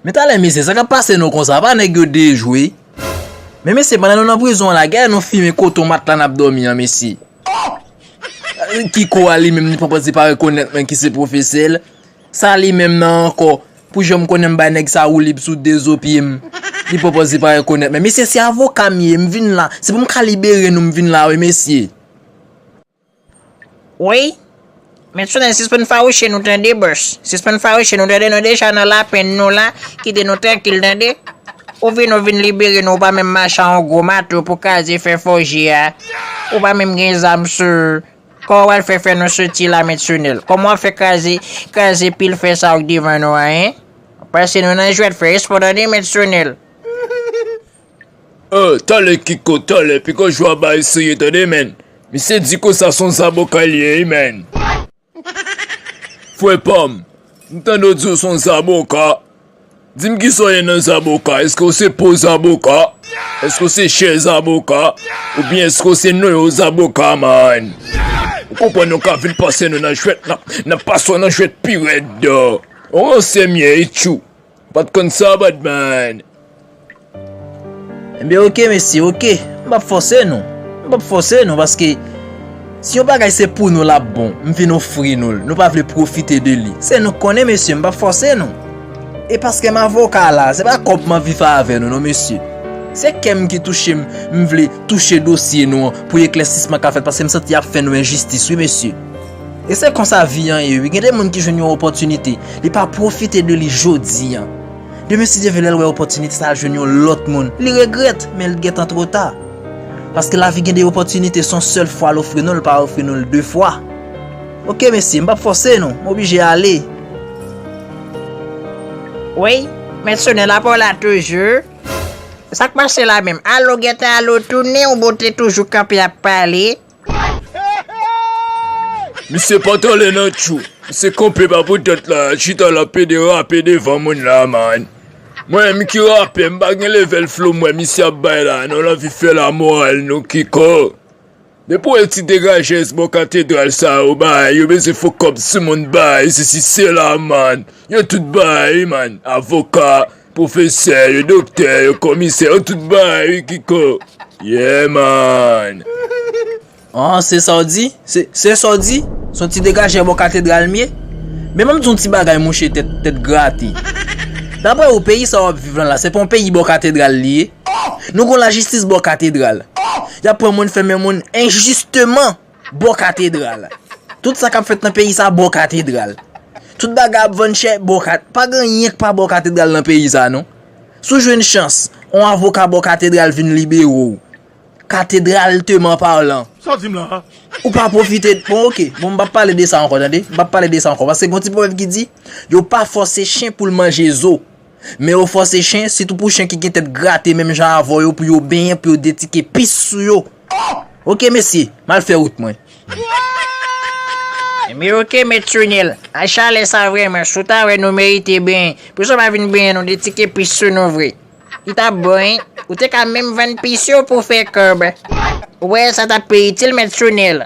Men talè mesye sa kap pase nou konsa apa nèg yo dejwe Men mesye pandan nou nan prizon la gade nou fimen koton matla nap domi an mesye Ohh Kiko a li menm li poko di pa rekonèt mwen ki se pwofesèl Sa li menm nan ankò pou janm konnen m bay nèg sa woulib sou 2 zo pye m Li poko di pa rekonèt mwen mesye se avoka m ye m vin la se pou m ka libere nou m vin la wi mesye. Woy Met Solange sispann fawouche nou tande bos sispann fawouche nou tande nou deja nan lapenn nou la kite nou trankil tande ou vin ou vin libere nou ou pa menm mache a yon gwo mato pou kaze fè fòje a ou pa menm gen zam sou ou kòman wal fè fè nou soti la Met Sonel kòman wap fè kaze kaze pil fè sa ou k devan nou a hein wap pase nou nan jwèt fè espò tande Met Sonel. Oh tòlè kiko tòlè piko jwa bay sou yo tande menn misye di konsa son zaboka li ye wi menn frè pam m tande w di w son zaboka di m kisa w ye nan zaboka èske w se po zaboka èske w se chè zaboka oubyen èske w se noyo zaboka man ou konprann nou ka vin pase nou nan jwèt nan nan pase w nan jwèt pi rèd ou ransè m ye itjou. Ou pat konn sa Badman. Enben ok mesye ok, m pap fòse nou, m pap fòse nou paske si yon bagay se pou nou lap bon, m vin ofri nou l, nou pa vle pwofite de li, se nou k konnen mesye m pap fòse nou. E paske m avoka la, se pa kòb m anvi fè avè nou non mesye, se kè m ki touche m, m vle touche dosye nou an pou eklèsisman ka fèt paske m santi yap fè nou enjistis wi mesye. E se konsa vi an ye wi, gen de moun ki jwenn yon opòtinite, li pa pwofite de li jodi an. Demen si Dye vle lè l wè opòtinite sa a jwenn yon lòt moun, li regrèt, men li gentan twò ta. Paske lavi gen de opòtinite, son sèl fwa l ofri nou l, l pa ofri nou l de fwa. Ok mesye, m p ap fòse nou, m oblije ale. Woy, mèsenè la pa w la toujou? Sa k pase la menm? Alo gentan alo tounen, ou bote toujou kanpe ap pale? Misye patale nan tchou. Misye kanpe pa poutèt la, lap chita lap pede rape devan moun la man. Mwen menm ki rapè m pa gen level flow mwen misye ap bay la non lanvi fè la moral nou kiko. Depi wè ti degajèz bò katedral sa yo bay yo bezwen fè kòb sou moun bay sesi sela man. Yo tout bay man avoka. Pwofesè yo, doktè yo, komisè yo tout bay wi kiko Yeah man. An se sa w di? Se sa w di? Se yon ti degajè bò katedral m ye? Men ban m di yon ti bagay mouche tèt grate. Daprè ou peyi sa w ap viv lan la se pa yon peyi bò katedral li ye? Nou gen yon lajistis bò katedral. Y ap pran moun fèmen moun enjisteman. Bò katedral. Tout sa kap fèt nan peyi sa bò katedral. Tout bagay ap vann chè bò katedral. Pa gen anyen ki pa bò katedral nan peyi sa non. Si w jwenn chans, yon avoka bò katedral vin libere w. Katedralteman palan. Sa w di m la a? Ou pa pwofite de. Bon ok. Bon m pap pale de sa ankò tande. M pap pale de sa ankò. Paske gen yon ti pwovèb ki di, yo pa fòse chen pou l manje zo. Men yo fòse chen, sitou pou chen ki gen tèt grate menm jan avè w yo pou yo benyen, pou yo detike pis sou yo. Ok mesi, m al fè wout mwen. Ebyen ok met Sunil, ay chalè sa vreman, si w ta wè nou merite benyen, poukisa w pa vin benyen nou de ti ke pis sou nou vre. Li tap bon wi, ou te ka menm vann pis yo pou w fè kòb. Ou wè sa tap pi itil met Sunil.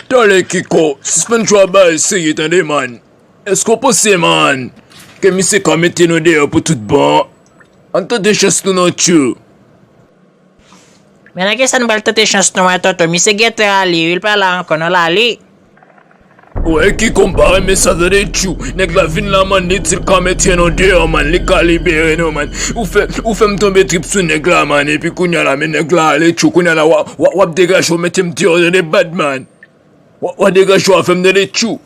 Tale Kiko, sispann jwa bal serye tande man. Eske w panse man, ke misye ka mete nou deyò pou tout bon. Ann tante chans nou nan tchoul. Men nan kisa nou pral tante chans nou an tonton misye gentan ale wi li pa la ankò non lale. Ou wè ki konw pa renmen sa tande tchou nèg la vin la man li dil ka mete nou deyò man li ka libere nou man ou fè ou fèm tonbe trip sou nèg la man epi kounya la men nèg la ale tchou kounya la wap degajew metem deyò tande badman. Wa degan chou a fem tande tjou.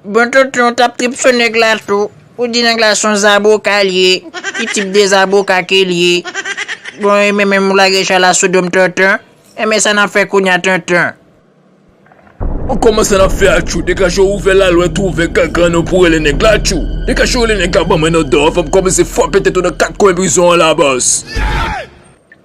Bon tonton ou tap trip sou nèg la tou, ou di nèg la son zaboka li ye, ki tip de zaboka ke li ye? Bon e men menm ou lage chay la sou dom tonton, e men sa nap fè kounya tonton? Bon kòman sa nap fè a tjou, degan chou ouvè lalwèt ou ouvè gangan nou pou rele nèg la tjou, degan chou rele nèg la banm 1 òdò, fòm kòmanse fwape tèt ou nan 4 kwen prizon an la bòs.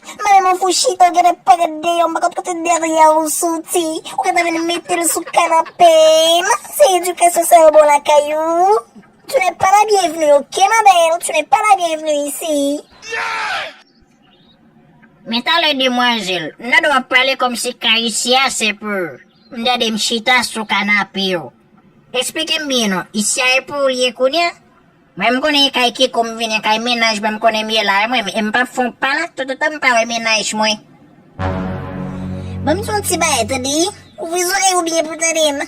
Madanm fou chita ou gentan pa gad dèyè ou m pa konn kote dèyè ou soti ou gentan vin mete l sou kanape m si se edikasyon sa yo ba w lakay ou tu n'es pas la bienvenue ok ma belle tu n'es pas la bienvenue ici. Men talè demwazèl Nòd wap pale kòmsi kayisyen an se pou m dède m chita sou kanape w esplike m byen non isi a e pou ou l ye kounya? Mwen m konnen kay keko m vini kay mennaj mwen m konnen m ye la wi mwen e m pap fè yon pa la tout otan m pa wè mennaj mwen. Ban m di w yon ti bagay tande ouvri zòrèy ou byen pou w tande m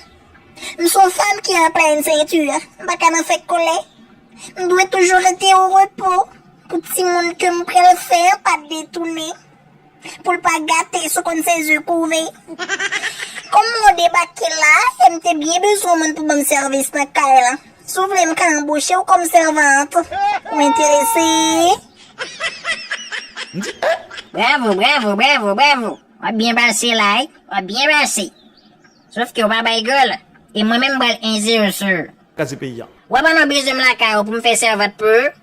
m son fanm ki anplen enseyitid m pa ka nan fè kòlè m dwe toujou rete o repo pou timoun ke m pral fè an pa detounen. Poul pa gate sou konn se ze kouve. Kòm mwen debake la e m te byen bezwen moun pou banm sèvis nan kay lan, si w vle m ka anboche w kòm sèvant. Ou enterese? M di, Eh! Bravo, bravo, bravo, bravo! W ap byen pase la wi, w ap byen pase. Sof ke w pa bay gòl, e mwen menm m pral enzersr. Kase peyi a. W ap ann anbeze m lakay ou pou m fè sèvant pou ou?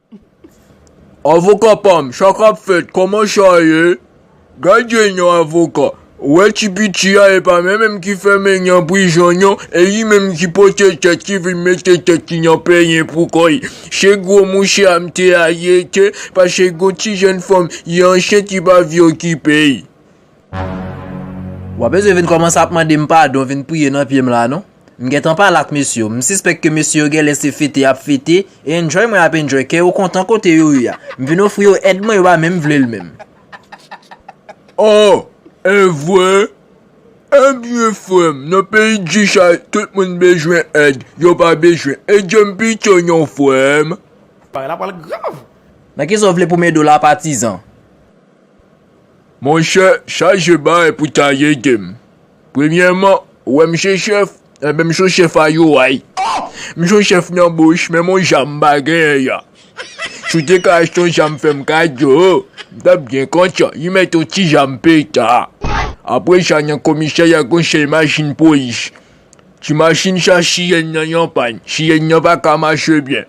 Avoka pam sa kap fèt koman sa ye gadyen yon avoka ou wè ti piti a epa men menm ki fèmen nan prizon non e li menm ki pote tèt li vin mete tèt li nan penyen pou kò li se gwo mouche a m te ale te pase gon ti jèn fanm li ansent li pa vle okipe l. Ou pa bezwen vin kòmanse ap mande m padon, vin priye nan pye m la non. M gentan pale ak mesye yo. M sispèk ke mesye yo genlè se fete y ap fete, e enjoy mwen y ap enjoy, kè yo kontan kote yo ye a. M vin ofri yo èd mwen, yo pa menm vle l menm. Oh! Evre? Ebyen frè m, nan peyi G-Shy, tout moun bezwen èd, yo pa bezwen edje m pito non frè m. Bagay la pral grav! Nan kisa w vle pou m ede w la patizan? Monchè chaje bay pou ta yedem premyèman ou wèm je chèf enben m son chèf a yoay oh m son chèf nan bouch menm on ja m pa genyen ya si w te ka achte on ja m fèm kado m tap byen kontan yi mèt on ti ja m peta apresa nan komisè ya gon sèl machin polis Ti machin sa chiyèn nan yon pàn chiyèn nan pa ka mache byen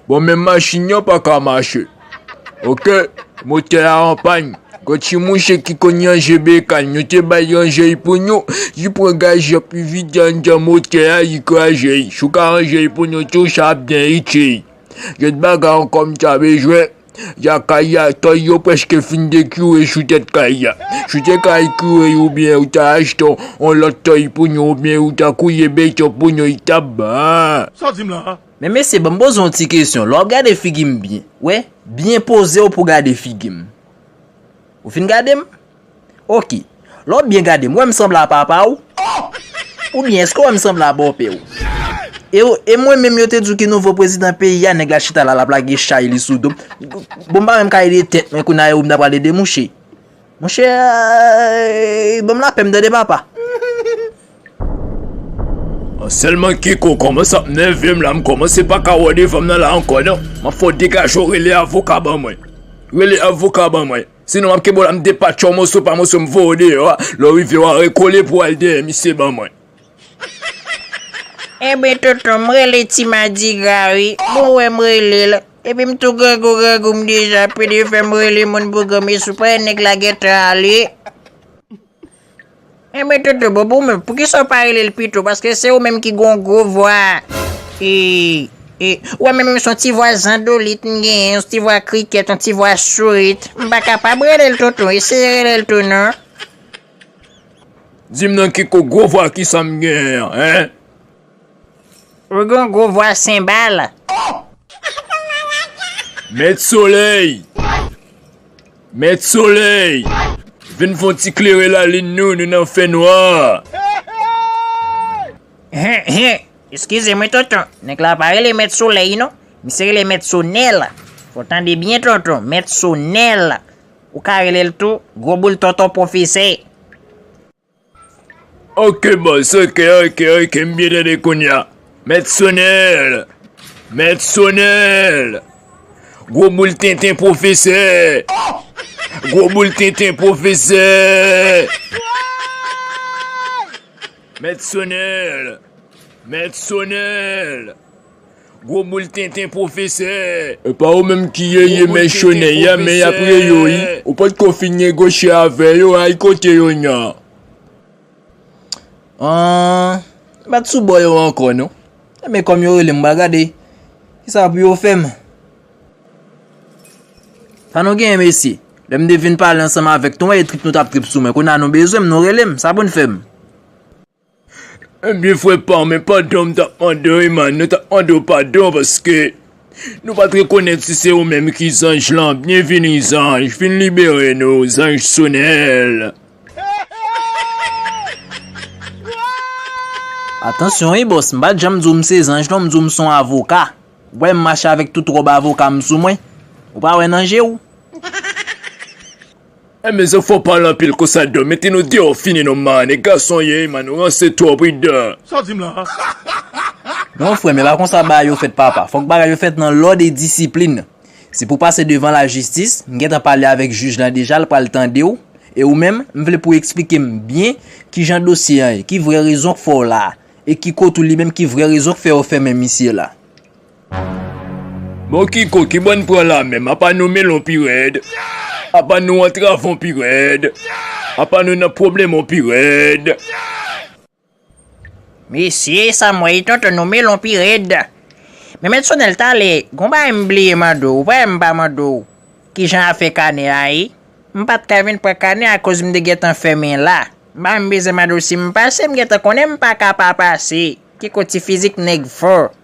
bon menm machin nan pa ka mache ok motè a an pàn gwo ti mouche ki konn ranje bekan nou te bay ranje l pou nou li pran gaz lan pi vide anndan motè a li kraze l si w ka ranje l pou nou tou sa ap byen itil jwèt bagay an kòm ta bezwen. Jakaya, kay yo preske fin dekure sou tèt kay la. Si te ka ekure yo ou byen ou ta achte yon lòt kay pou nou ou byen ou ta kouye beton pou nou li tap bon. Sa w di m la a? Men mesye banm poze yon ti kesyon lè wap gade figim byen wè byen pozew pou gade figim ou fin gadem. Ok. Lè w byen gade m, ou wè m sanble a papa w? Oubyen èske w wè m sanble a bòpè w? E mwen menm yo te di w ki nouvo prezidan peyi a, nèg la chita la l ap lage chay li sou do m. Bon m pa menm ka ede tèt mwen kounye a e ou menm ta pral ede mouche? Mouche, ban m lapè m tande papa. Sèlman Kiko kòmanse ap nève m la, m kòmanse pa ka wè devan m nan la ankò non. M ap fè w degaje w rele avoka ban mwen. Rele avoka ban mwen. Sinon map kenbew la m depatchew moso pa moso m voyew deyò a, lè w rive wa rekole pou w al dèyè misye ban mwen. Ebyen tonton m rele ti madigra wi bon wè m rele l epi m tou grangou grangou m deja pede fè m rele moun pou granmesi w pa wè nèg la gentan ale. Enben toto bobo ou menm poukisa ou pa rele l pito paske se ou menm ki gen yon gwo vwa ou wè mwen menm se yon ti vwa zandolit m genyen yon ti vwa krikèt yon ti vwa sourit m pa kapab rele l toto eseye rele l tou non. Di m non kiko gwo vwa kisa m genyen an hein. Ou gen yon gwo vwa senbal. Met soley. Mèt solèy! Vin fon ti klere lalin nou, nou nan fè nwa! Hen, hen! Eskize mwen tonton, nèg la pa rele mèt solèy non, misye rele mèt sonèl! Fò w tande byen tonton, mèt sonèl! Ou ka rele l tou, gwo boul tonton pwofesè! Ok bòs ok ok ok m byen tande kounya Mèt Sonèl Mèt Sonèl Gwo boul tenten pwofesè Gwo boul tenten pwofesè Mèt Sonèl Mèt Sonèl Gwo boul tenten pwofesè. Epa ou menm ki ye ye mèchonè ya men yap re yo wi ou pot ko fin negoche avè yo ay kote yo nan Ahh m pat sou bò yo ankò non men kòm yo relem m pral gade kisa pou yo fèm. Sa nou genyen mesye? Lè m te vin pale ansanm avèk nou wè e trip nou tap trip sou mwen kounya nou bezwen m nou relem sa poun fèm. Ebyen frè pam men padan m tap mandew Eman nan tap mandew padon paske Nou pat rekonèt si se ou menm ki zanj lan byenvini zanj vin libere nou zanj sonèl. Atansyon wi bòs m pat janm di w m se zanj non m di w m son avoka w wè m mache avèk tout ròb avoka m sou mwen ou pa wè nan je w. An men zo fò pale anpil konsa do mete nou deyò fini nou man e gason ye man nou ranse twòp wi do. Sa w di m lan an? Non frèm e pa konsa bagay yo fèt papa, fòk bagay yo fèt nan lòd e disiplin. Se pou pase devan lajistis, m gentan pale avèk jij lan deja l pral tande w e ou menm m vle pou w eksplike m byen kijan dosye an ye, ki vrè rezon k fè w la a e ki kot ou li menm ki vrè rezon k fè yo fèmen misye la. Bon kiko kibò n pran la menm apa nou melon pi rèd apa nou antravon pi rèd apa nou nan pwoblèmon pi rèd. Mesi samway tonton nou melon pi red. Men met sonel tale gon bagay m bliye mande w vre m pa mande w kijan afè kanè a ye m pat ka vin pran kanè a koz m te gentan fèmen la banm bezwen mande w si m pase m gentan konnen m paka pa pase kiko ti fizik nèg fò